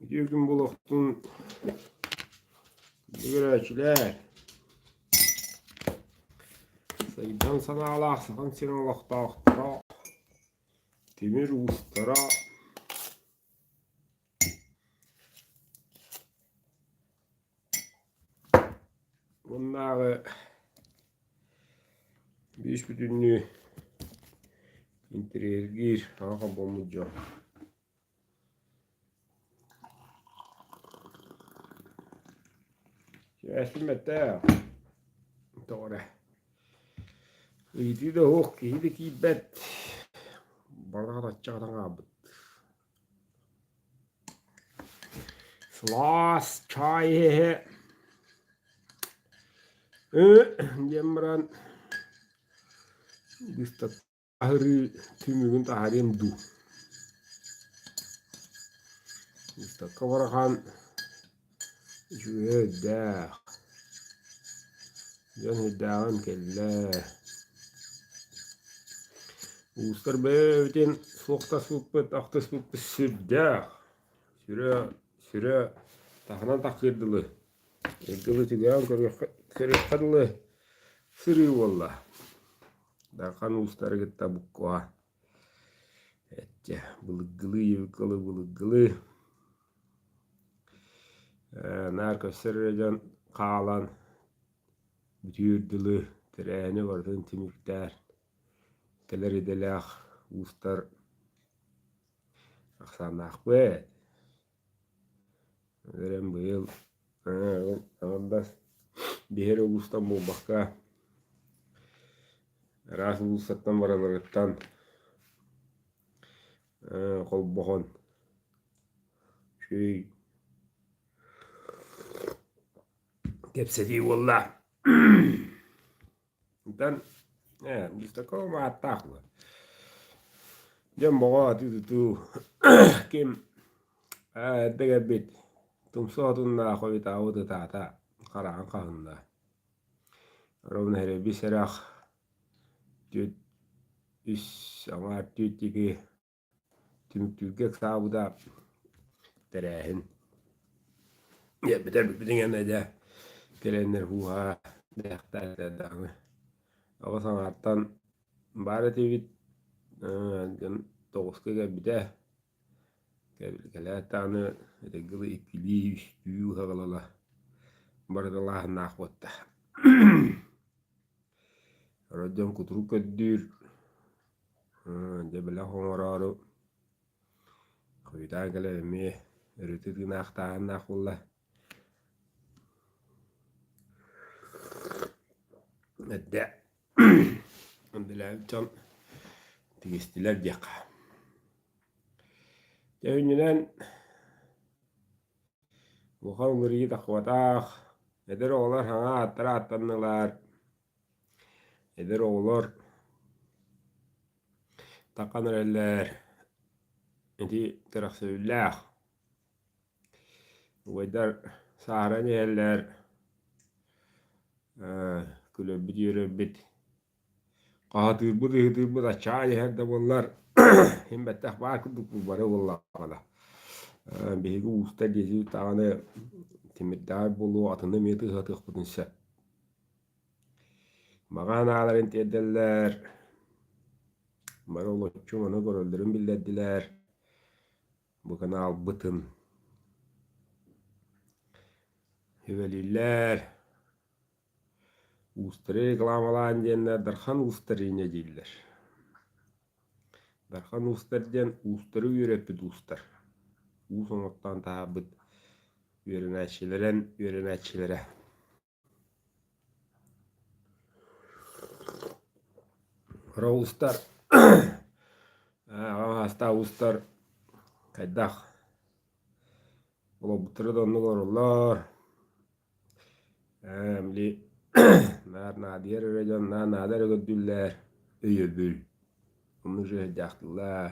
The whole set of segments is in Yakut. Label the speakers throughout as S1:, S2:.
S1: Үтүөкүн булуохтун бүгүрээччилэр. Сайдан санаалаах сахан сирин олохтоохторо, тимир уустара, Уоннааҕы биис бүтүннүү интэриэһиргиир аҕа хомпоммут дьон Сибээскин бэттээх тоҕо эрэ ыйытыы да суох киһи да киирбэт барҕа хараччы гынан хаалбыт Слаас чаай иһэ диэн баран аһырыы түмүгүн таһаарыам дуу. Выставка барахан Үчүгэйэ өйдөөх, дьон өйдөөҕүн кэллэ. Уустар бэйэбитин суох таспыппыт, ахтыспыппыт сүрдээх. Сүрэ, сүрэ таһынан тахсыыр дылы. Дылы түгэҕин көрүөххэ, көрүөххэ дылы сырыы буолла. Дархан уустары кытта буккуһа. Эттэ, былыггылыы Евикалы былыггылыы Э, наар көстөр эрэ дьон хаалан бүтүүр дылы тэрээһини барытын түмүктээн кэлэр идэлээх уустар ахсааннаахпыт Эн быйыл аҥардас биһиэхэ улуустан буолбакка араас уулуссаттан баралларыттан холбоһон үчүгэй кэпсэтии буолла Итан ээ бис такого мааттаах була. Дьон бөҕө атыы-тутуу ким эрдэгэрбит тумсоотуннаах хобитаабыт ытаата хараҕын хаһынна. Ровно эрэ бисэрэх түт үс аҥаар түт ики Түмүктүүргэ ыксаабыта тэрээһин. Биттэр бүппүтүн кэннэ кэлэннэр хууһа дэхтаата даҕаны оҕо саҥаттан баар этибит дьон тоҕуска кэлбитэ кэлээт даҕаны этэҥҥэ ыла иккилии үстүү саҕалала барыталааһыннаах буолта орой дьон кутурук көрдүүр Дьэ бэлэх оҥороору хойутаан кэлэр эмиэ ырыты тыынаахтааһыннаах буолла. Эрдэ үлэлээбит дьон тигистилэр диэххэ. Дьэ үнньүнэн улахан уларыйыы тахпатах, эдэр оҕолор саҥа ааттара ааттаннылар. Эдэр оҕолор тархан эрэллэр ити тирэхсэбиллээх убайдар сааһыран иһэллэр күлэрбит үөрэрбит хаһытыырбыт ыһытыырбыт аччаан иһэр да буоллар син бэттэх баар курдук бары буоллаҕына биһиги уустар диэки даҕаны тимирдээҕи буолуо атыны эмиэ тыаһатыахпытын сөп Маҕаһын ааларын тиэрдэллэр, бары олоччу ону көрөллөрүн биллэрдилэр, буканы аалбытын сүбэлииллэр. Устары рекламалаан диэннэр Дархан устарыня дииллэр. Дархан устар диэн устары үөрэппит устар. Уус оноттоон таһаарбыт үөрэнээччилэрэн үөрэнээччилэрэ. Роустар аҕам саастаах уустар хайдах олорбуттара да оннук олороллор ээ били наар наадыйар эрэ дьон наар наада эрэ көрдүүллэр өйөбүл оннук дьиэ сырдьаахтыллар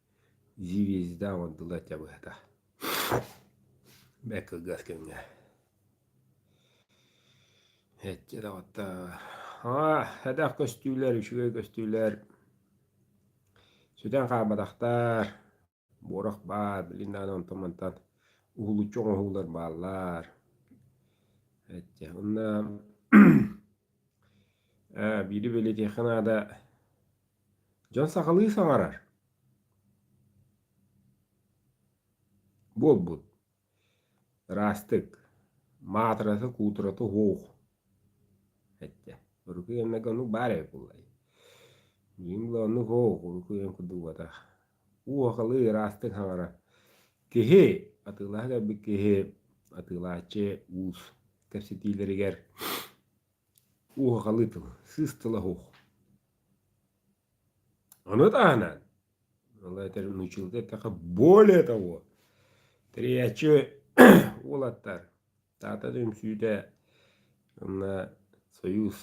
S1: Дивизда оҥордулар этэ быһата бэрт кылгас кэмҥэ эчи доҕоттоор аа элбэх көстүүлэр үчүгэй көстүүлэр сүтэн хаалбатахтар буорах баар билигин даҕаны онтон мантан уһулуччу оҥоһуулар бааллар эчи онно биири бэлиэтиэххэ наада Дьон сахалыы саҥарар. Буолбут. Ыраастык. Маатырата, куутурата оһох. Этте. Урукуйаннага ону баар эбит буллай. Миин була ону оһох, урукуйан курдук батах. Уохалыы ыраастык саҥара. Киһи, атыылаһа кэлбит киһи, атыылааччы уус кэпсэтиилэригэр уохалыы тыл, сыыс тыл оһох. Ону таһынан училка эттэхэ более того тэрийээччи уолаттар Таата да үҥсүүтэ уонна Союз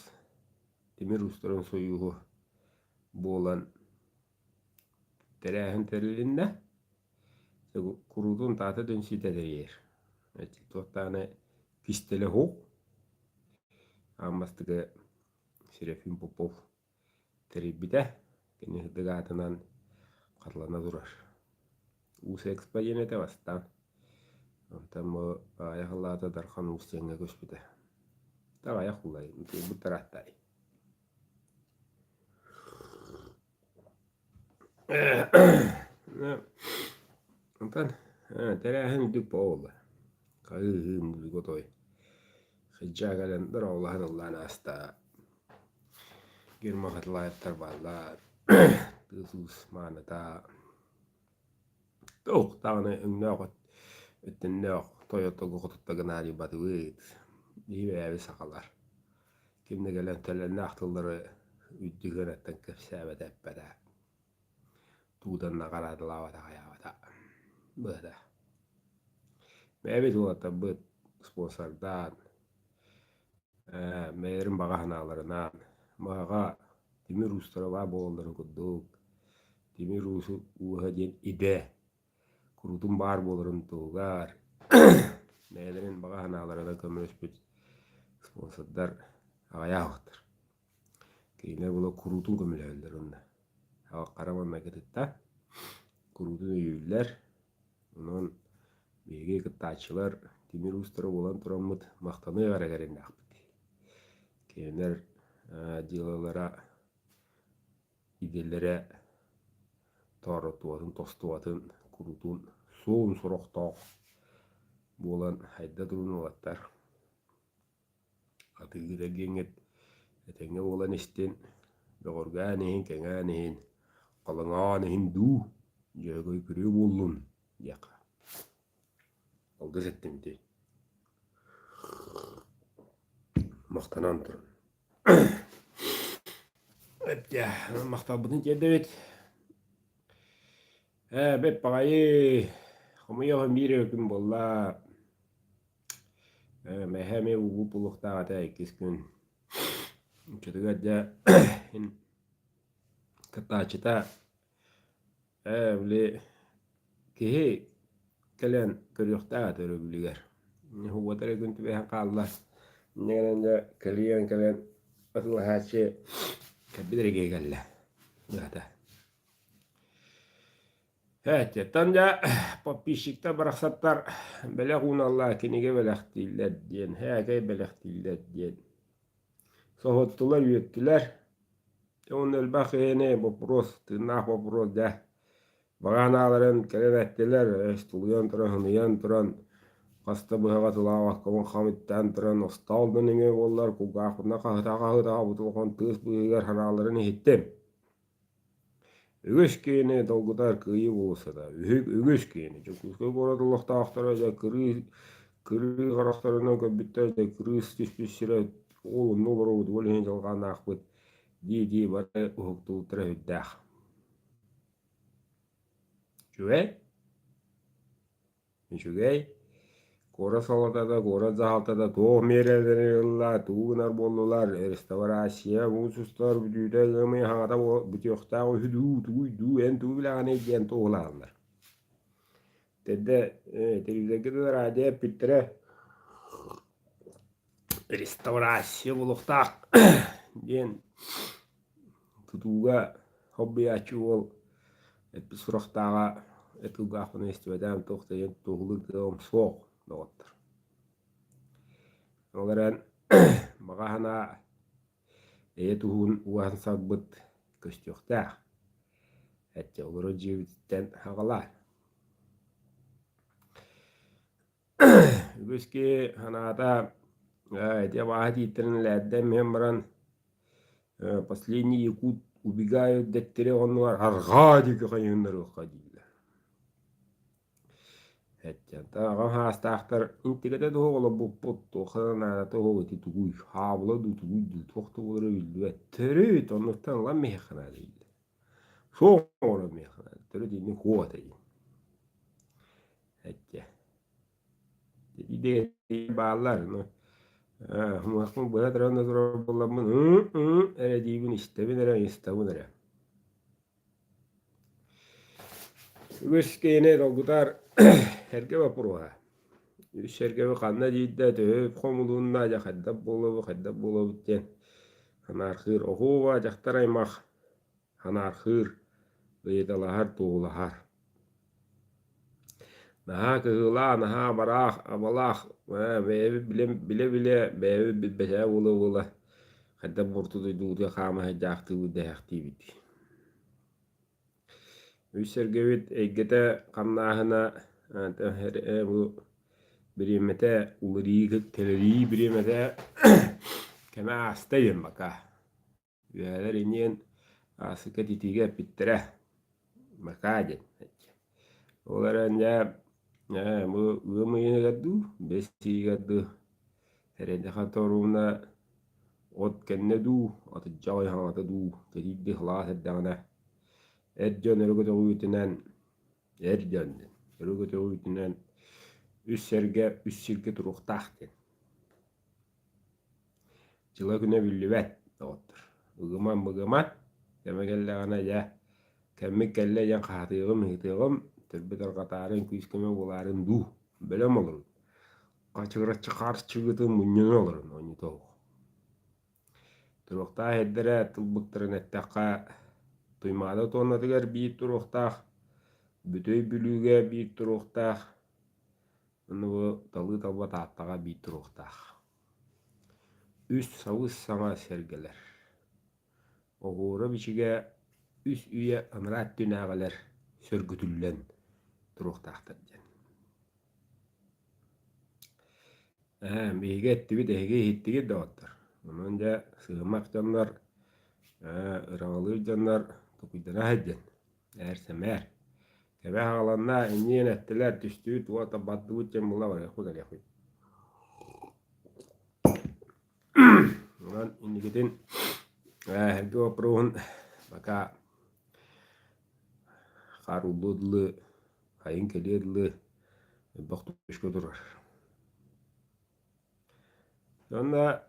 S1: тимир уустарын сойууһу буолан тэрээһин тэрилиннэ. Куруутун Таата да үҥсүүтэ тэрийэр. Туох даҕаны кистэлэһуох. Аан бастакы Серафим Попов тэрийбитэ. Кини сырдык аатынан Харлана турар. Уус экспо диэн этэ бастаан. Онтон бу аҕайах аллаата Дархан Уус диэҥҥэ көспүтэ. Аҕайах улай, утуйбут тарааттаай. Онтон тэрээһин үрдүк буолла. Хаһыыһыым бүгү той Хыдьаа кэлэн дороолаһан ыллаан ааста. Герман Хатылаевтар бааллар. Тыыл-туус мааната Туох даҕаны өҥнөөх от өттөннөөх Toyota-гы хотуттан гынаарыйбатыбыт, иибээби сахалар. Кимнэ кэлэн төлөннөөх тыллары үрдүһүөнэттэн кэпсээбэтэ эппэтэ. Туутан наҕараадалаабата аҕыйаабата. Быһата. Бэйэбит уолаттарбыт спонсордаан, ээ бэйэлэрин баҕа санааларынан, баҕа тимир уустара баар буолалларын курдук Тимир уусу ууһа диэн идэ куруутун баар буоларын туһугар бэйэлэрин баҕа санаалара да көмөлөспүт спонсордар аҕыйаабыттар. Кинилэр була куруутун көмөлөһөллөр онно. Аҕа хара майгытытта куруутун өйүүллэр. Онон биһиги кыттааччылар тимир уустара буолан тураммыт махтаныа эрэ кэриннээхпит. Кинилэр дьыалалара идэлэрэ тооруттубатын тостубатын куруутун суон сорохтоох буолан хайда турун уолаттар атыыгы да диэҥҥит этэҥҥэ буолан истин бөҕөргөөн иһин кэҥээн иһин халыҥаан иһин дуу дьөһөгөй күрүө буоллун диэххэ алгыс эттим ити махтанан туран Эптээ, махталбытын тиэрдэбит. Ээ, бэп аҕайы хомойоҕун биир өкүн буолла. Э, мэһэ эмиэ угууп улуктаах этэ иккис күн. Чотугар дьэ, кыттааччыта Ээ, били киһи кэлэн көрүөхтээх этэ өрөбүлүгэр. Уота эрэ күн түбэһэн хаалла. Инньэ гынан дьэ кэлиэн кэлэн атыылаһааччы кэлбит эрэ киһи кэллэ. Быһата. Ээттиэттэн дьэ подписчиктар барахсаттар бэлэх ууналлар, кинигэ бэлэхтииллэр диэн, эһэкэй бэлэхтииллэр диэн. соһуттулар-үөттүлэр уонна элбэх киһини боппуруос тыыннаах боппуруос дьэ баҕаанааларын кэлэн эттилэр өс тулуйан туран хыныйан туран хаста быһаҕа тулаах хомун хамыттаан туран остоол да нөҥүө буоллар кулгаахпытына хаһытаҕа хаһытаҕа бутулҕан тыас быыһыгар харааларын иһиттим Үгүс киһини долгутар кыайыы уулуссата үһү үгүс киһини Дьокуускай куорат олохтоохторо дьэ кырыы кырыы харахтарынан көрбүттэр дьэ кырыыс түспүт сирэ ол онно олоробут ол иһин дьалханаахпыт дии-дии бары уһуктубуттара үһүрдээх. Үчүгэй Үчүгэй. Куорат салалтата, куорат дьаһалтата туох миэрэлэри ылла, тугу гынар буоллулар, реставрация, устустар, бүтүүтэ ыамый хаҥата бүтүөхтээх үһү дуу, тугуй дуу, эн тугу билэҕиний диэн туоһулаһаллар. Тэрдэ телевизорга да радио эппиттэрэ реставрация буолуохтаах диэн тутууга хоббуйааччы уол эппит сурахтааҕа эт кылгаахпына истибэтэм туох диэн туоһулуур дьолум суох доҕоттор ол эрэн баҕа санаа эйэ туһун ууһан сарбыт көстүөхтээх эчи олору дьиэбититтэн аҕалаан Үгүскү санаата ити абааһы тииттэрин элээрдэн миһэн баран последний якут убегают дэттэри оннугар арҕаа диэки хайыһыннарыахха дииллэр. Аҕам саастаахтар интигэтэ туһу олорбуппут туохха да наада туһу ити тугуй хаабыла дуу тугуй дуу туох да буолара биллибэт төрүт оннуктан ылан миһэхэ наада дииллэр Шоора миэхэ төрүт инник хуо этэйин. Эттэ. Идея бааллар. Хумахмын быһа тұран турар болламмын эрэдиибин истэбин эрэ истэбин эрэ. Үгүс киһини долгутар эргэ боппуруоһа. Сэргэби ханна диирдэ төһө хомулунна дьэ хайдах буолабыт хайдах буолабыт диэн анаархыыр оһуоба дьахтар аймах анаархыыр ыйыталаһар туһулаһар наһаа кыһыылаах наһаа абараах абалаах бэйэбит билэ билэ билэ бэйэбит билбэтээ буола буола хайдах бурту дойдубутугар хаама сылдьаахтыыбыт дэһээхтиибит Өй-сэргэбит эйгэтэ хамнааһына бу бириэмэтэ уларыы кэлэрии бириэмэтэ кэмэ ааста диэн бака. Үөһэлэр иниэн ааспыкка итиигэ эппиттэрэ бакаа диэн Ол эрэн дьэ ээ бу ыам ыйыныгар дуу, бэс ыйыгар дуу эрэйдэхэ торуна от кэннэ дуу, атырдьа аҕай хаҥата дуу кэтиирдии халаас эрдэҕинэ эр дьон өрө көтөҕүүтүнэн эр дьон диэн өрө көтөҕүүтүнэн үс сэргэ үс сиргэ туруохтаах диэн дьыла-күнэ биллибэт, доҕоттор. Быгыман, быгыман, кэмэ кэллэҕинэ, дьэ, кэммит кэллэ диэн хаһатыаҕым, ыһытыаҕым, төрбүт арҕатаарын, күүс-көмө буолаарын дуу, бөлөм олорон, хачыгыраччы харчыгытын мунньунан олорон оонньотоҕух. Туруохтаах эрдэрэ тылбыттарын эттэххэ, Туймаада туоннатыгар биир туруохтаах, Бүтэй Бүлүүгэ биир туруохтаах, Аны бу талыы табыга Тааттаҕа биир туруохтаах. Үс сабыс саҥа сэргэлэр. Оҕуора-бичигэ үс үйэ анараа өттүнээҕилэр сөргүтүллэн туруохтаахтар диэн. Ээ, биһиги эттибит эһиги иһиттигит доҕоттор. Онон дьэ сыымах дьоннор, ээ, ыраҥалыыр дьоннор, тукуйдана сылдьан Ээр-сэмээр. Кэбэ хааланна, иньиэн эттилэр, түстүүт, уота бардыбыт дьон була барыахпыт барыахпыт. Онон инникитин эһэрги опруһун пока хаарыллыы дылы хайын кэлиэ дылы элбэх түшкө турар. Онна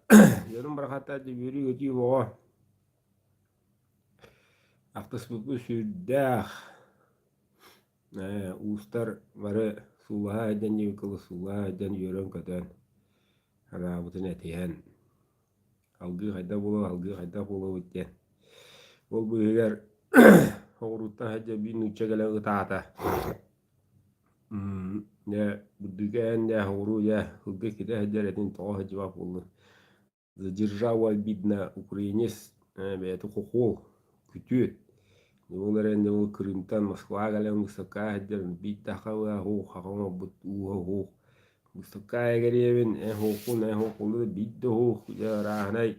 S1: Дьөрүн барахата дьүбүрүү өтүү боҕо Ахтыспыппыт сүрдээх. Ээ, уустар бары суулаһа сылдьан ньыыкылы суулаһа сылдьан үөрэн-көтөн, анаабытын этиһэн, алгыы хайдах буолуо, алгыы хайдах буолуобут диэн. Ол быыһыгар оҕуруттан сылдьан биир нуучча кэлэн ытаата. Дьэ, бурдук ээн дьэ, оҕуруу дьэ, сылгы китэ сылдьар этин тоҕо сылдьыбат буоллун. Держава обидна украинец бэйэтэ хохуол, күтүөт. Ол эрэн ол Крымтан Москваҕа кэлэн выставкаҕа сылдьар бийтахалла оһуох хаҕа оҥорбут ууһа оһуох. Выставкаҕа эгэриэбин эһуохун эһуохуллар биирдэ оһуох арааһынай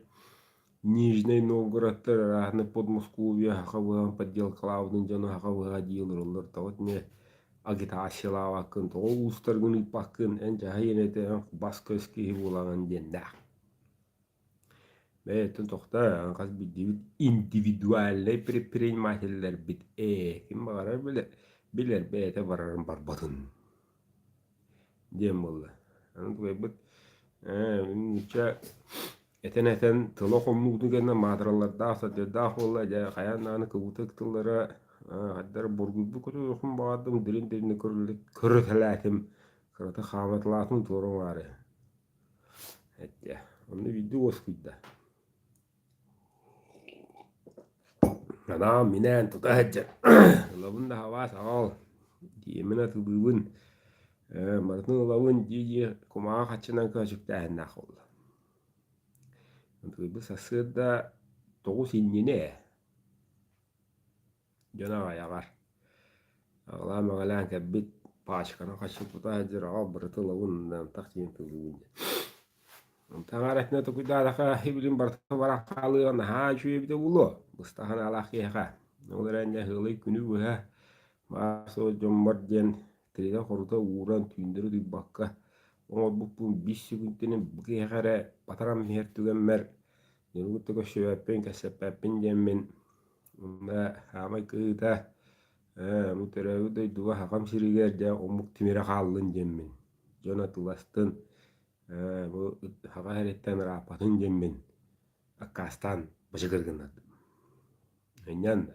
S1: Нижнэй Новгородтар арааһынай Подмосковье хаҕа быһаҕын подделкалаабытын дьоно хаҕа быһаҕа дии олороллор тоҕо итиннэ агитациялаабаккын, тоҕо улуустаргын ыыппаккын, эн дьаһайан этиһэн бас-көс киһи буолаҕын диэннээх. Бэйэттэн тохтой, хас биллибит индивидуальнай предпринимателлэрбит ээ, ким баҕарар билэр, билэр бэйэтэ барарын барбатын диэн буолла. Аны тугайбыт, нуучча Этэн-этэн тыла хомнуугун кэннэ маатыралардаах, садьырдаах буолла, дьэ хайаан даҕаны кыбытык тыллара хайдар бургуйбут кутуохун баҕардым, дириҥ-дириҥ көрүтэлээтим, кыратык хаамыталаатым туора маары. Эттэ, онно биирдии уоскуйда. Анаан минээн тута сылдьан ылабын да хабаа саҕал, диэмин атылыыбын, барытын ылабын дии-дии кумаҕы хаччынан көөчүктээһиннээх буолла Ытыырбы сарсыарда тоҕус иннинэ ээ, дьон аҕайаҕар аҕалаан-маҕалаан кэлбит пачканы хаччыкпыта сылдьар аҕал барыта ылабын да ынтах диэн тыллыыбын диэн. Таҥара өттүнэн токуйдаатахха ибитин барыта баран хаалыаҕа наһаа үчүгэй эбитэ буолуо быстах санаалаах киһиэхэ. Ол эрэн дьэ сыалый күнү быһа маар суох дьоммор диэн тыына-хорута ууран түүннэри утуйбакка оҥорбуппун биис сүгүнтэним бу киһиэхэ эрэ батарам иһэр түгэммэр ньуругу да көрсүбэппин кэпсэппэппин диэммин умна саамай кыһыыта ээ бу төрөөбүт дойдуга сахам сиригэр дьэ омук тимирэ хааллын диэммин дьон атыластын ээ бу саха сэрииттэн ырааппатын диэммин аккаастаан бачыгыр гыннардым мунньан да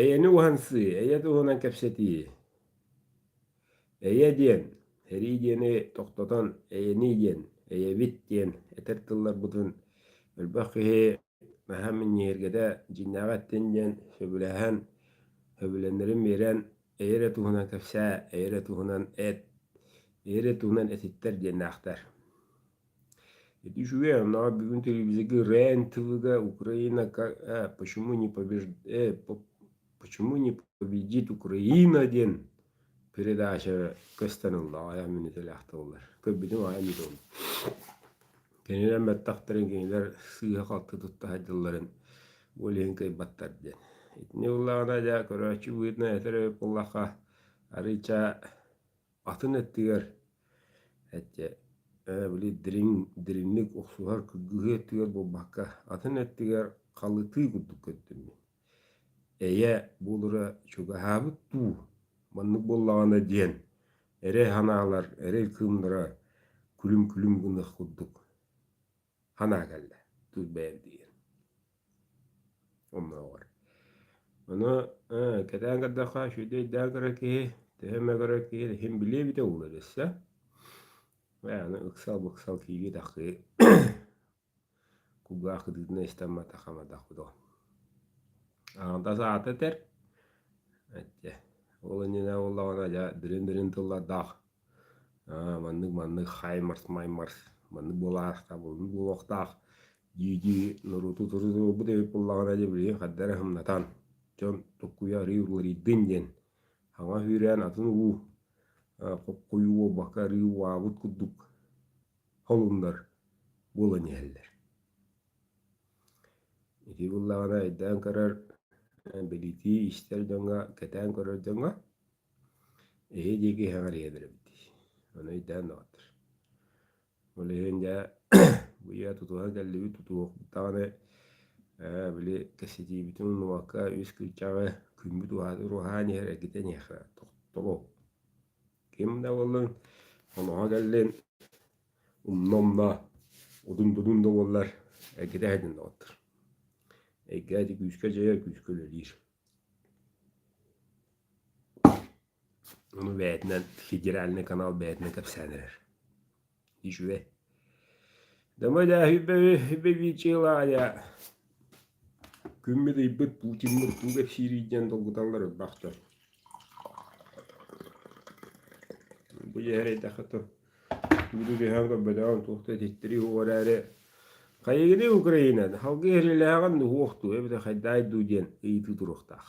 S1: Эйэни уһансыы, эйэ туһунан кэпсэтии. Эйэ диэн, эрии диэни тохтотон эйэнии диэн, эйэбит диэн этэр тылларбытын элбэх киһи маһа минньигэһиргэтэ дьиҥнээҕи эттин диэн сөбүлэһэн, сөбүлэҥнэрин биэрэн эйэ эрэ туһунан кэпсээ, эйэ эрэ туһунан эт, эйэ эрэ туһунан этиттэр диэннээхтэр. Ити үчүгэй, мынага бүгүн телевизорга рен-тв-га Украинака э, почему не побежд... э, почему не победит Украина диэн передача көстөнүллэҕэ айан мүнөтэлээхтэллэр. Көрбүтүм айан дом. Кинилэр баттахтарын кинилэр сыыһа-халты тутта садьылларын олиһин кыйбаттар диэн. Итини ыллаҕына дьа көрөөччү быытына этэр өп буллахха арыыча атын өттүгэр эчэ ээ били дириҥ дириҥник охсуһар кыргыһыы өттүгэр буолбакка атын өттүгэр халытыы курдук көттүм мин эйэ буолара чугаһаабыт дуу маннык буоллаҕына диэн эрэй санаалар эрэй кыымнара күлүм-күлүм гыныах курдук ханаа кэллэ тут бэйэм диир омнооҕор ону кэтээн көрдөххө сүөдэйдээн көрөр киһи төһө эмэ көрөр киһи иһин билиэ эбитэ уулу өлөссө аны ыксал быксал киирии тахыы кулгаах кытыытына истэммэтэ хамадах будо аҥардас аата этэр ол иннинэ буоллаҕына дьэ дириҥ дириҥ тыллардаах маннык маннык хаймарс маймарс маннык буолаахтаах маннык буолуохтаах дии-дии норуоту турутурбут эбит буоллаҕына дьэ билигин хадда эрэ хымнатан дьон туккуйа арыый уларыйдын диэн хаҥа сүүрээн атын улуу хоххойуу буолбакка арыый убаабыт курдук холуннар буолан иһэллэр ити буоллаҕына эйдээн көрөр билитии истэр дьоҥҥо кэтээн көрөр дьоҥҥо Эһи диэки иһэҕэр иһэллэрим дии, ону өйдөөн даҕатар. Ол иһин дьэ быйа тутуһан кэллибит, тутуһуох даҕаны ээ били кэссэтиибитин умнубакка үс кырдьаҕы күммүт уһаан иһэр эргитэн иһиэхэ тобол. Ким да буоллун хоноһо кэллин умна-умна удун-дудун да буоллар эргитэ иһэтин даҕатар. Эйгэ ити күүскэ дьайар, күүскэ үлэлиир. Ону бэйэтинэн федеральнай канал бэйэтинэн кэпсээн эрэр. Үчүгэй. Күммүт ыйбыт Путиммыт тууга кэпсиирийдиэн долгуталлар ырбахтар. Бу дьэһэр эйдэхэ тор Буду дьаһаан көрбөтөҕүм туох да ититтирии уо эрээри «Хайыгыный, Украина, салгыы эһэлэлээҕин уһуох дуо эбэтэр хайдаай дуу» диэн ыйытыы туруохтаах.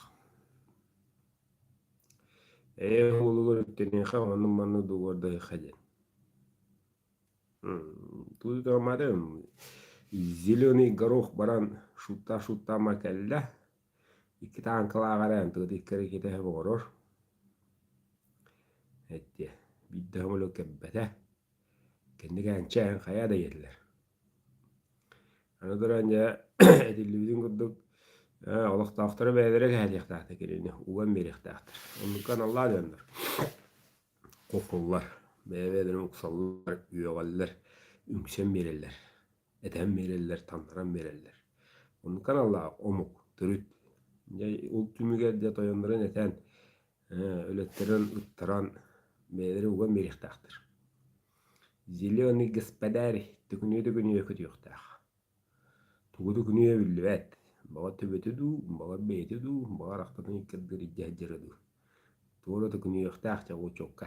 S1: Ээ уолугар үттэниэхэ онну манна дугуордаһыха диэн. Тут мадам зеленый горох баран шутта шутта макалля Икки тааҥкалаах эрэ антыбыт иккэрэ иккитэһэ оҕорор. Эттиэ, биирдэ хомолук кэлбэтэ. Кэнник ээнчээн хайа да иһэллэр. Аны туран дьэ этиллибитин курдук олохтоохторо бэйэлэрэ кэһэлиэхтээхтэр кинини уган биэриэхтээхтэр. Оннукка аналлаан ыаннар кухуллар, бэйэ-бэйэлэрин уксаллар, үөҕэллэр, үҥсэн биэрэллэр. этэн биэрэллэр, таҥнаран биэрэллэр. Оннук аналлаах омук, төрүт. Дьэ, ол түмүгэр дьэ тойоннорун этэн, өлөттөрөн ыттаран, бэйэлэрэ уган биэриэхтээхтэр. Зеленый господарь төкүнүө-төкүнүө көтүөхтээх. Тугуту күнүө биллибэт. Баҕа төбөтө дуу, баҕа бэйэтэ дуу, баҕа арахтатын иккирдэр иддэ сдьара дуу. Туора төкүнүөхтээх чаҕычокка.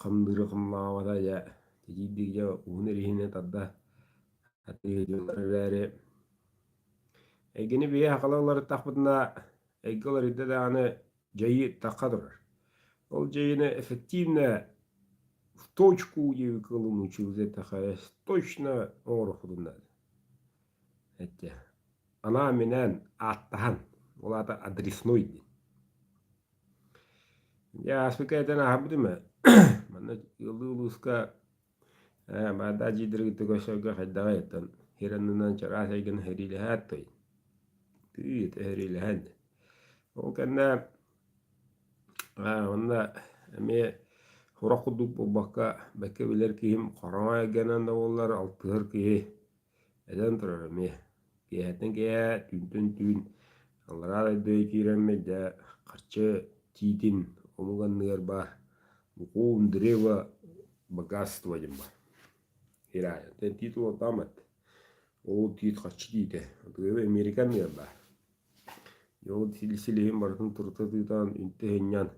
S1: хамныыра хамнаабата дьэ титиирдик дьэ уһун ириһинэ тарда атыы дьыллар эрээри эйгэни биһиэхэ уларыттахпытына эйгэ уларыйда даҕаны дьайыы тахха турар ол дьайыыны эффективно в точку диэки кылымы чугдатаха точно оҥорохпутун наада эттэ Анаа минээн ааттаһан, ол аата адреснуй диэн. Я ааспыты этэн ааһабыт үмэ манна ылыы-ылыыска баарда дьиидэригитэ көсөргө хайдаҕай оттон хираннынан чараас эйгэн херилэһээт той тыыт эһерилэһэн ол кэннэ онна эмиэ сурах курдук буолбакка бэккэ билэр киһим хараҥа эйгэнэн да буоллар алтыһар киһи Эдэн турар эмиэ, киэһэттэн киэһэ түүнтэн түүн аллараа дойду киирэммит да харчы тиитин омук анныгар баар букуум древо богатство диэн баар Иранияттан тиит улаатаамат ол тиит харчы тиитэ атыыһы Америка анныгар баар ол силиһин барытын турта тыытаан үнтэ сынньан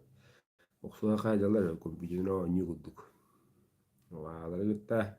S1: охсуһа хаайдалар компьютерын оонньуу курдук алары кытта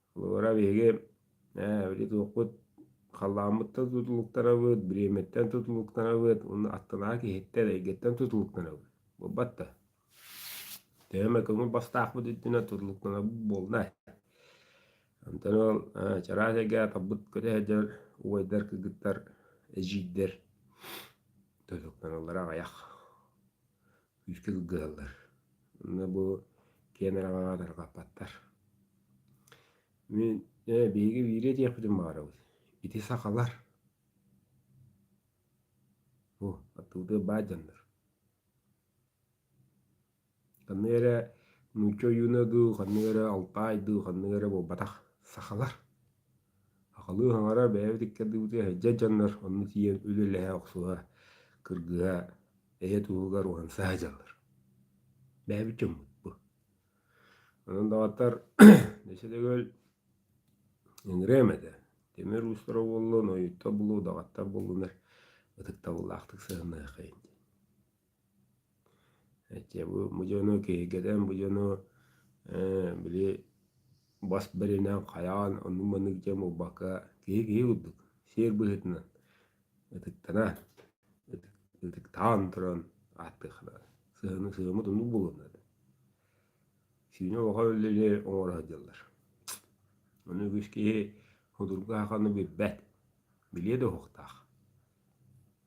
S1: Холобура, биһиги эбили туохпут халлааммыттан тутулуктанабыт, бириэмэттэн тутулуктанабыт, уонна аттылаах киһиттэн, эйгэттэн тутулуктанабыт. Буолбат да. Төһө эмэ көҥүл бастаахпыт үрдүнэн тутулуктанабыт буолла. Онтон ол чараас эйгэ тарбыт көтө сылдьар убайдар, кыргыттар, эдьиийдэр тутулуктаналлара аҕыйах. күүскэ кылгыһаллар. Онно бу киэн араҕаҕа тарҕаппаттар. Мин э, биһиги бииргэ диэхпитин баҕарабыт. Ити сахалар. О, оттуутугар баар дьоннор. Ханнык эрэ нуучча ойууна дуу, ханнык эрэ алтай дуу, ханнык эрэ буолбатах сахалар. Сахалыы хаҥара бэйэбит иккэрдибитигэр сылдьар дьоннор онно тиийэн үлэлэһэ охсуһа, кыргыһа, эйэ туһугар уһансаһа дьаллар. Бэйэбит дьоммут бу. Онон даҕатар өссө төгүл ыҥырыам этэ, тимир уустара буоллун, ойуттар буоллун, даҕаттар буоллуннар ытыктабыллаахтык сыһыаннаһыаххайын диэн. Эти бу бу дьону киһиргэтэн бу дьону ээ били бас бэринэн хайаан оннук-маннык дьон буолбакка киһи киһи курдук сиэр быһыытынан ытыктанан ытыктаан туран ааттыахтара сыһыаны сыһыаммыт оннук буолуохтара этэ сиинэ улахан үлэни оҥоро сылдьаллар ону үгүс киһи судургу аһаҕаны билбэт билиэ да уһуктаах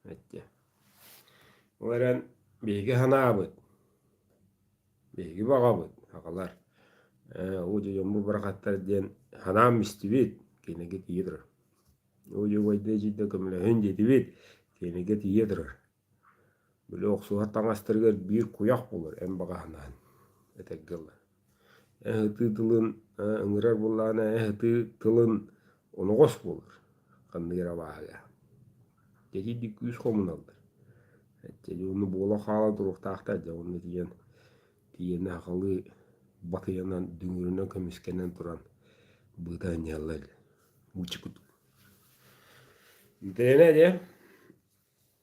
S1: Эттэ. Ол эрэн биһиги санаабыт, биһиги баҕабыт, аҕалар удьуйан бу бырахаттар диэн санаам истибит, кинигэ тиийэ турар. Удьуйбайдыы эдьиийдэ көмөлөһүн диэтибит, кинигэ тиийэ турар. Били охсуһар таҥастарыгар биир куйах булар эн баҕа санаан этэргэ ылар. Ыһытыы тылын ыҥырар буоллаҕына ыһытыы тылын оноҕос буолар ханнык эрэ абааһыга. Дьэдийдик күүс хомуналлар. Эчэйи ону буола хаала туруохтаахтар дьэ онно тиийэн тиийэн сахалыы батыйанан дүҥүрүнэн көмүскэнэн туран быыта анньаллар буча кутук. Итиэннэ дьэ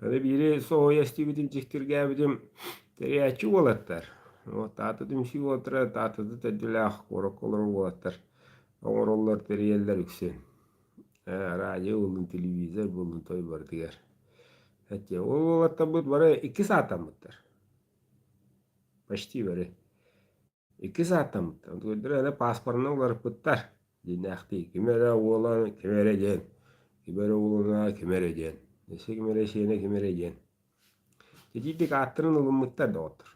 S1: Ары биири соһуйа истибитим, дьиктиргээбитим, тэрийээччи уолаттар. Вот аата түмсүү уолаттара Таатата төрдүлээх куораккалар уолаттар оҥороллор, тэрийэллэр үксүн. Радио буоллун, телевизор буоллун той барытыгар. Эттиэ, ол уолаттарбыт бары икки саатаммыттар. Почти бары. Иккис ааттаммыт. Өкүлдэр эрэ пааспарына уларыппыттар. Диинээхтии. Ким эрэ уола ким эрэ диэн. Ким эрэ уолуна ким эрэ диэн. Эсэ ким эрэ сиэнэ ким эрэ диэн. Итиитик ааттарын ылыммыттар доҕоттор.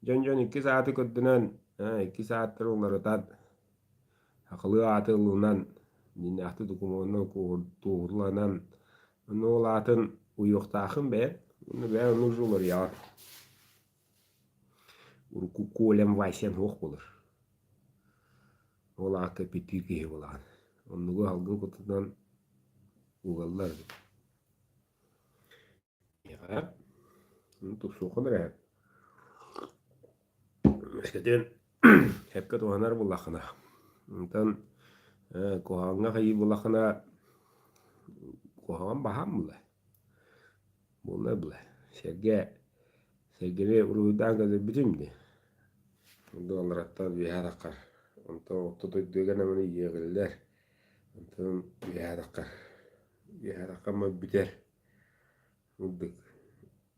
S1: Дьон-дьон иккис ааты көрдөнөн, ээ, иккис ааттары уларытан, хахылыы ааты ылынан, диинээхтик докумуонунан туоһуланан, онно ол аатын уйуохтаахын бэйэн, онно бэйэн нужду уларыйаҕын. Урукку Колям Васян суох буолар. Ол аата эппиэттиир киһи буолаҕын. Оннугу аһылгын кутунан угаллар эбит. Миэхэ тусуоххун эрэ үөскэтин сөпкө туһанар буоллаххына онтон куһаҕаҥҥа хайыы буоллаххына куһаҕан баһаам буолла Буолла буолла. Сэргэ, сэргэни уруһуйдаан көрдөрбүтүм дии. Онно алараттан үөһэ атаххар. Онтон орто дойдуга намыны иэҕиллэр. Онтон үөһэ атаххар. Үөһэ атаххаммыт бүтэр. Мурдук.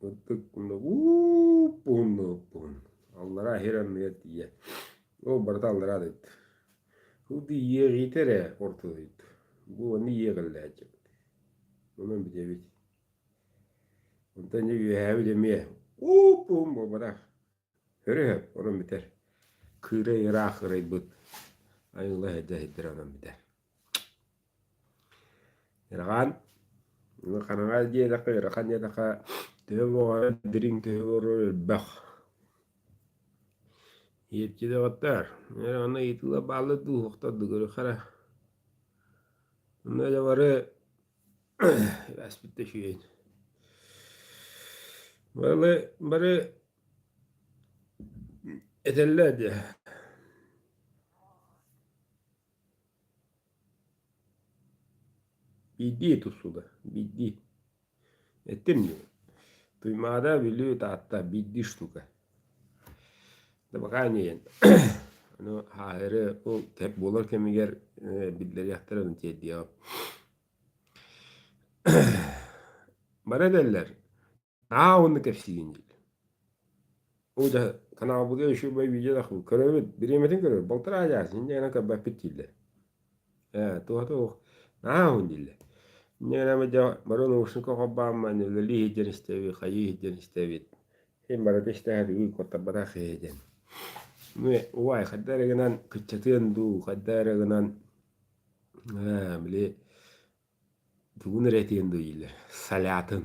S1: Мурдук мунна уууп уһунна уһун. Аллараа иһэр анныгар тиийэ. Ол барыта аллараа дойду. Ол иэҕиитэ эрэ орто дойду. Бу онно иэҕиллээччи. Онон бүтэбит. Онтон дьэ үөһээбит эмиэ уу-пуум буолбатах. Өрөһөп онон бүтэр. Кыырай ыраах кырайбыт. Айыыла эһэдэ эһэддэрэ онон бүтэр. Ырахан ханаҥа диэтэххэ ырахан диэтэххэ төһө моҕойо дириҥ төһө буолуо элбэх. Иэпчи дөҕөттөр аны ыйытыыла баалла дуу, хата дыгыры хара. Онно дьэ бары ааспыт да үчүгэйин бары бары этэллэр дии биирдии тусуда биирдии эттим дии туймаада бүлүү таатта биирдии штука Табакаа үҥүйэн. Ону ааһары ол тэп буолар кэмигэр биллэриэхтэрэ дын тиэрдиэҕим. Бары этэллэр «Аа уонна кэпсиин» диир. Ол дьэ канаалбытыгар еще бу видео көрөбүт, бириэмэтин көрөр, балтараа дьаа син дьиэнэн көрбөппүт дииллэр. Ээ, туоһа туох наһааһын дилэ. Мин эми дьэ бары наушника холбооммун үлэлии сылдьан истэбит, хайыы сылдьан истэбит. Син барыта истээт уйгуттарбатах иһитин. Мин убай хайда эрэ гынан кыччатыан дуу, хайда эрэ гынан ээ били Тугун эрэ этиэн дуо дииллэр, солятын.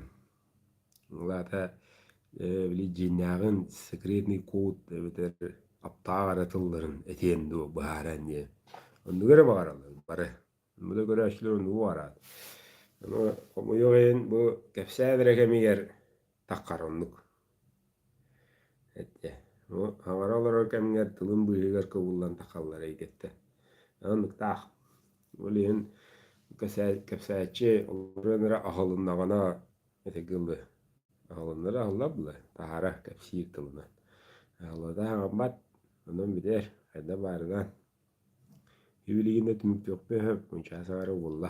S1: Аата били дьиэннээҕин секретный код эбэтэр аптаах эрэ тылларын этиэн дуо быһааран диэн. Оннук эрэ баҕараллар бары. Ону да көрөөччүлэр оннук баҕараат. Аны хомойуох иһин бу кэпсээн эрэ кэмигэр такхараммыт. Эттэ. Ну, аҥара олорор кэмҥэр тылын быыһыгар кыбыллан тахаллар эйгэттэн. Ынныктаах. Ол иһин кэпсээччи олорон эрэ аһылыннаҕына ити гылы аһылыннара аһыллар дылы таһара кэпсиир тылынан. Аһыллата хаҥаммат онон битэр хайда баарынан иилигинэ түмүктүөхпэ мунчаас аары булла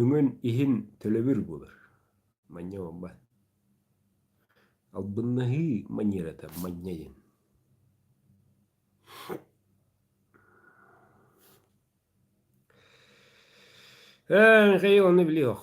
S1: Өҥөн иһин төлөбүр булар. Манньа буолбат. Албыннаһыы маньыырата манньайын. Эһи ону билиох.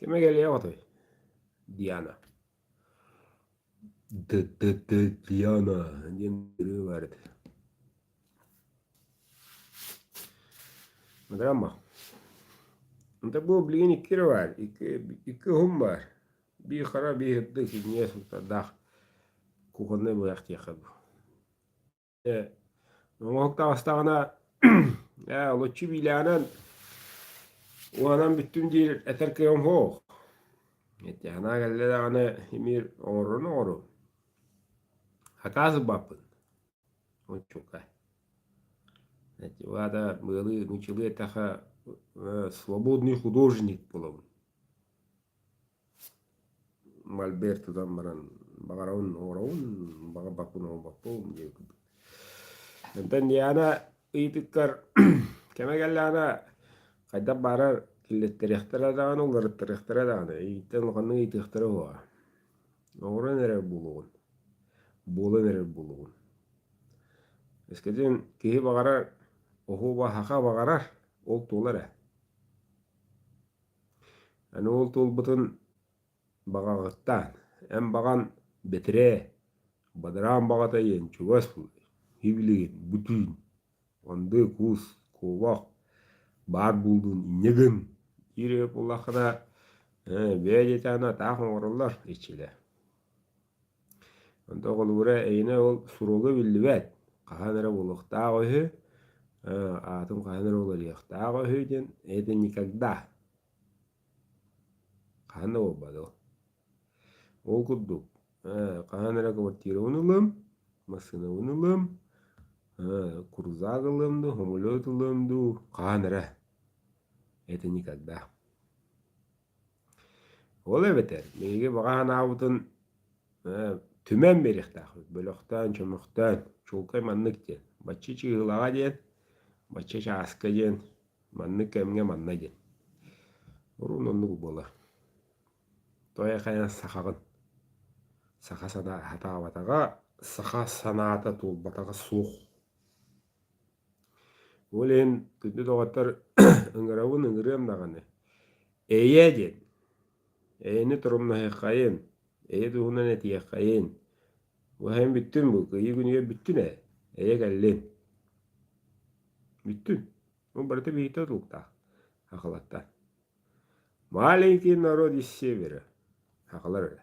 S1: кими кэлиэҕитэй диана ды-ды-ды диана диэн ырыы баар этэ драма это был блин икки баар икки икки уһун баар бии хара бии ырдык синьиэс даах кухонный быһах диэхэ дуу Э, Оһук таҕыстаҕына э, луччу биилээнэн уонан бүттүм диир этэр кыам хоох. Итиэхэнаа кэллэ даҕаны имир оҥорорун оҥору. Хакаасыбаппын. Мучука. Вада были начали это свободный художник булабын. Мольберт тутан баран баҕарабын оҥоробун, баҕа баппын оҥорбоппун диэбиппин. Онтон Диана ыйытыктар кэмэ кэллэҕинэ хайдах баарар киллэттэриэхтэрэ даҕаны, уларыттарыахтара даҕаны. Итинтэн улаханнык ыйытыахтара буолуоҕа. Оҥорон эрэр буолуоҕун, буолан эрэр буолуоҕун. Өскөтүн киһи баҕарар, оһуоба, саха баҕарар ол туолар ээ. Аны ол туолбутун баҕаҕыттаан, эн баҕан бэтэрээ, бадараан баҕата диэн чугас буолуой, сибилигин, бутүүн, мындыы куус, куобах баар буолуун инньэ гын, диир эбит буоллаххына, ээ, бээ диэтэҕинэ, атаах оҥороллор иччилэр Онто оҕолуура эйинэ ол суруга биллибэт, хаһан эрэ буолуохтаах үһү, аатын хаһан эрэ уларыйыахтаах үһү диэн это никогда. Хаһан да буолбат ол. Ол курдук хаһан эрэ квартирабын ылым, массыынабын ылым, курузак ылым дуу, самолет ылым дуу, хаһан эрэ. Это никогда. Ол эбэтэр биһиги баҕа санаабытын түмэн биэриэхтээхпит бөлөхтөөн, чөмөхтөөн, чуолкай маннык диэн бачча чыыһылаҕа диэн, бачча чааска диэн, маннык кэмҥэ манна диэн. Урун оннук буолар. Той-хайа сахаҕын саха санаа сатаабатаҕа, саха санаата туолбатаҕа суох. Ол иһин күндү доҕоттор ыҥырабын ыҥырыам даҕаны, эйиэ диэн, эйэни торумнаһыаххайын, эйэ туһунан этиэххэйин. Бу эһэм бүттүн бу, кыайыы күнүгэр бүттүн ээ, эйэ кэллин. Бүттүн. Ол барыта биһиктэ тутулуктаах акылаттан. Маленький народ из севера. Акылар эрэ.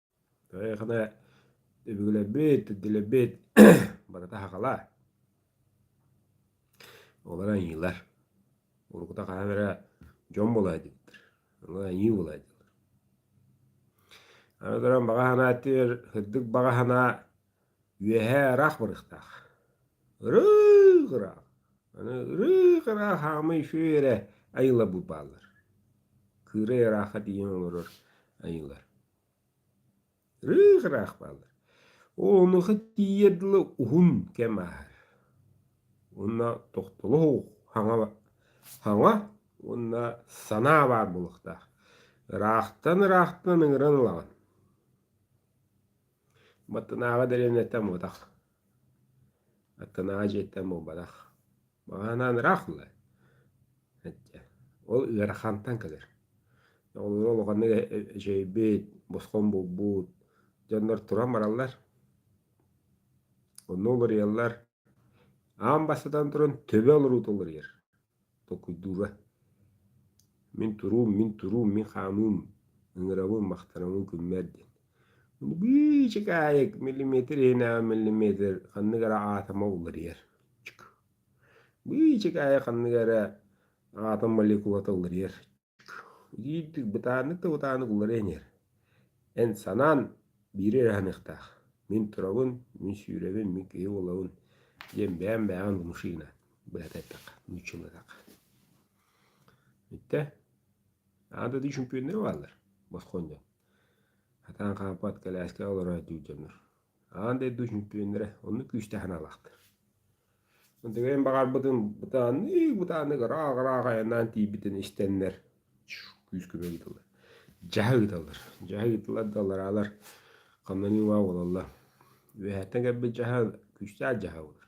S1: Эһиэхэ өбүгэлэрбит, идэлэрбит барыта аһаҕала. Олор аньыылар. Уруккута хаһан эрэ дьон буолаайдыыллар. Аны аньыы буолаайдылар. Аны туран баҕа санаатыгар, сырдык баҕа санаа Үөһээ ыраах барыахтаах. Ырыых ыраах. Аны ырыых ыраах хаамый шүөрэ айыыларбыт бааллар. Кыырай ырааха диэн олорор айыылар. Ырыых ыраах бааллар. Онуха тиийэр дылы уһун кэм ааһар. Уонна тохтолох хаҥа хаҥа уонна санаа баар буолуохтаах. Ыраахтан ыраахтан ыҥыран ылаҕын. Баттанааҕа дэриэбинэттэн муҥутах, аттынааҕы дьиэттэн буолбатах. Маҕаһыынаан ыраах буолла, эдьэ ол ыарахантан кэлэр. Оҕолоро улаханнык эчэйбит, босхо булбут, дьоннор туран бараллар, онно уларыйаллар. Аан бастатан туран төбө олоруута уларыйар, толкуйдуура. Мин туруум, мин туруум, мин хаамыым, ыҥырабын, махтанабын күммэр диэн. Быычык аайы миллиметр иһинээҕи миллиметр ханнык эрэ аатома уларыйар. Быычык аайы ханнык эрэ аатом молекулата уларыйар. Иир бытааннык да бытааннык уларыйан иһэр. Эн санаан биири эрэ аһыныахтаах. Мин турабын, мин сүүрэбин, мин киһи буолабын, диэн бэйэм бэйэҕин да мышина быһата эттэххэ, нууччалатахха. Итэ аан дойду чөмпүйүөннэрэ бааллар босхуон дьон. Хатаан хаампат, кэлээскэ олороот дьиҥ дьоннор Аан дойду чөмпүйүөннэрэ оннук күүстээх аналаахтар. Тыгайын баҕарбытын бытааннык бытааннык ырааҕ-ырааҕ айаннаан тиийбитин истэннэр күүскэ ыытыллар. Дьаһа ыыталлар. Дьаһа ыытыллар да алараалар хамнанима буолалла. Үөһэттэн кэлбит дьаһа күүстээх дьаһа буолар.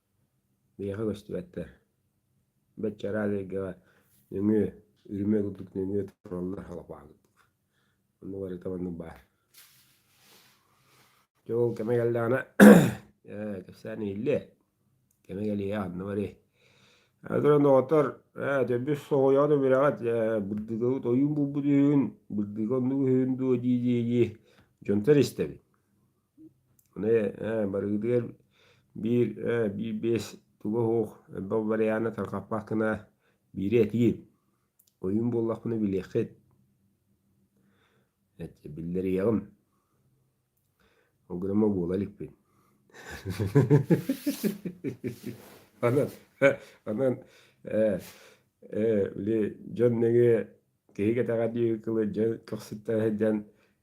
S1: Биһиэхэ көстүбэттэр. Бэччэраад эйгэҕэ нөҥүө, үрүмүө курдук нөҥүө тураллар халапаакытык. Онно барыта маннык баар. Дьэ ол кэме кэллэҕинэ ээ кэпсээн иһиллиэ. Кэме кэлиэ ханна барыай. Аны туран доҕоттор ээ төрбүс соһуйаҕыт үбүрэҕит ээ бырдыгабыт ойуун булбут үһүн бырдыга оннук үһүн дуо дии-дии-дии дьонтор истэбит. Барыгытыгар биир биир биэс туга оһуох элбэх варианы тарҕаппат гына биири этиим. Ойуун буоллахпына билиэххит. Биллэрийэҕим. Ол гынан ма буола иликпин. Онон онон били дьон нөҥүө киһи кэтэҕэ диэки кылы дьон көхсүттэн сылдьан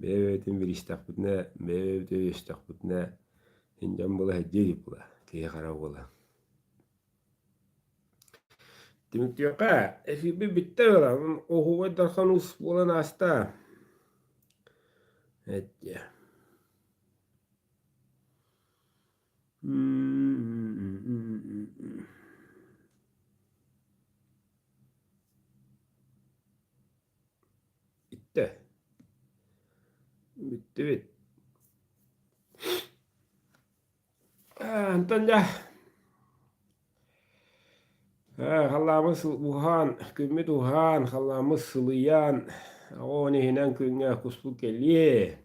S1: Бэйэбитин биристэхпитинэ, бэйэбит өйөстөхпүтүнэ, мин дьон былаһырдьыы илик була, киһи хара буола. Түмүктүөххэ, эфирбит бүттэ ыалан, оһуобай дархан ус буолан ааста. Эттиэ. Бүттэ. Бүттүбүт. Э, Антон дьэ. Э, Халлааммыт уһаан, күммүт уһаан, халлааммыт сылыйаан, оҕоон иһинэн күҥҥэ куспут кэлиэ.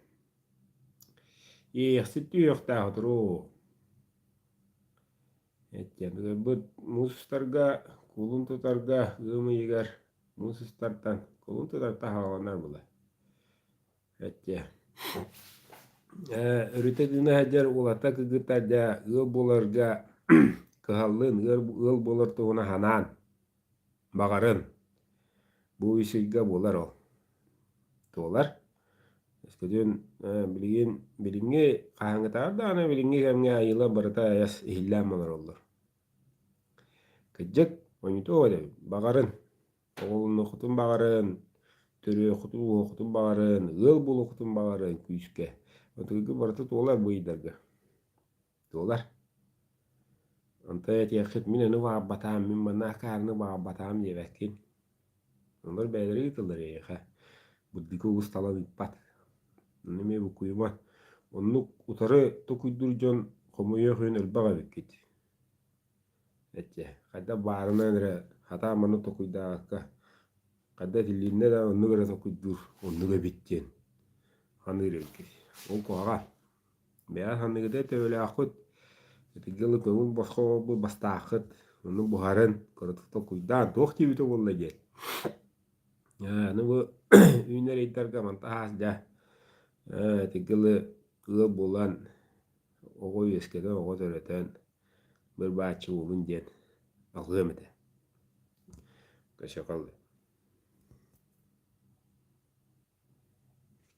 S1: Иэхсит үһүөхтээх туруу. Etiэбилэрбит муус устарга, куулун тутарга ыам ыйыгар муус устартан куулун тутар таһаҕаланар була. Этиэ э өрүтэ гына сылдьар улата кыгыта дьэ ыал буоларга кыһаллыын ыал буолар туһуна санаан Баҕарым. Бу үсүйгэ буолар ол. Туолар. Өскөтүн билигин билиҥҥи хаһааҥҥытааҕар даҕаны билиҥҥи кэмҥэ айыылар барыта айас иһиллээн олороллор. Кырдьык, хоньутуох этэ эбит. Баҕарын. Оҕолонуоххутун баҕарын, төрүөххутун-ууһуоххутун баҕарын, ыал буолуоххутун баҕарын күүскэ. Ытыгы барыта туолар бу ыйдарга. Туолар. Онто этиэххит, мин ону баарбатаам, мин манна акаарыны баарбатаам диэбэккин. Олор бэйэлэрэ ыытыллар эйиэхэ. Буддика усталан ыыппат. Ону эмиэ буккуйуман. Оннук утары токуйдуур дьон хомуйуох иһин өлбөх эбиккит. Эчэ, хайда баарынан эрэ хата маны токуйдаакка хайда итиллиннэ да оннук эрэ токуйдуур оннук эбит диэн ханыыр эбиккит. Ол куһаҕан. Бэйээ саныыгыдай төбөлөөххүт, итинги ылы көҥүл босхо оҥорбут бастааххыт, ону буһарын, кыратык толкуйдаан, туох диэбитэ буолла диэн. Ээ, аны бу үүнэр ыйдарга мантан аһаас дьэ, ээ, итинги ылы ыал булан, оҕо үөскэтэн, оҕо төрөтөн, быр-бааччы уолун диэн алҕыам этэ. Көсөкөл.